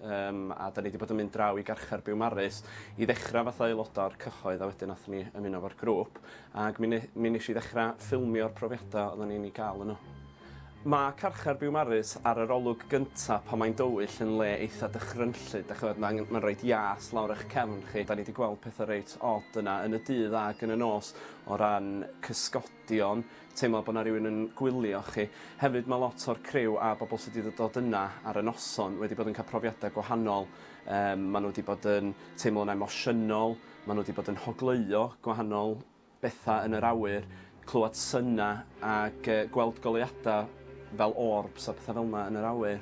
Yym a 'dan ni 'di bod yn mynd draw i garchar Biwmaris i ddechra fatha aeloda o'r cyhoedd a wedyn nathon ni ymuno efo'r grŵp ag mi ne- mi nesh i ddechra ffilmio'r profiada oddan ni'n 'u ga'l yno. Ma' carchar Biwmaris ar yr olwg gynta pan mae'n dywyll yn le eitha dychrynllyd 'dach ch'mod ma'n ma'n roid ias lawr ych cefn chi 'dan ni 'di gweld petha reit od yna yn y dydd ag yn y nos o ran cysgod Dion, teimlo bod 'na rywun yn gwylio chi. Hefyd mae lot o'r criw a bobl sydd wedi dod yna ar y noson wedi bod yn cael profiadau gwahanol. Yym maen nhw wedi bod yn teimlo'n emosiynol, maen nhw wedi bod yn hogleuo gwahanol bethau yn yr awyr, clywed syna ac yy gweld goleuadau fel orbs a pethau fel yna yn yr awyr.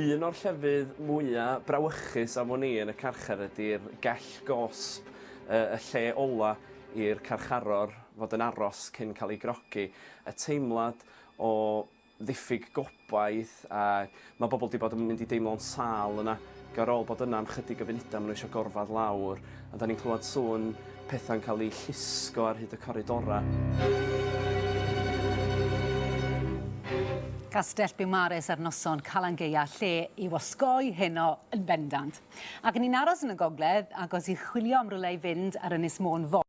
Un o'r llefydd mwya' brawychus afon ni yn y carchar ydi'r gell gosb, yy y lle ola' i'r carcharor. fod yn aros cyn cael ei grogi, y teimlad o ddiffyg gobaith a mae bobl 'di bod yn mynd i deimlo'n sâl yna. Ac ar ôl bod yna am chydig o funudau maen nhw eisiau gorfod lawr a 'dan ni'n clywed sŵn pethau'n cael eu llusgo ar hyd y coridorau. Castell Biwmares ar noson Calan Gaeaf lle i'w osgoi heno yn bendant. Ac ni'n aros yn y gogledd, agos i chwilio am rywle i fynd ar Ynys Môn fory.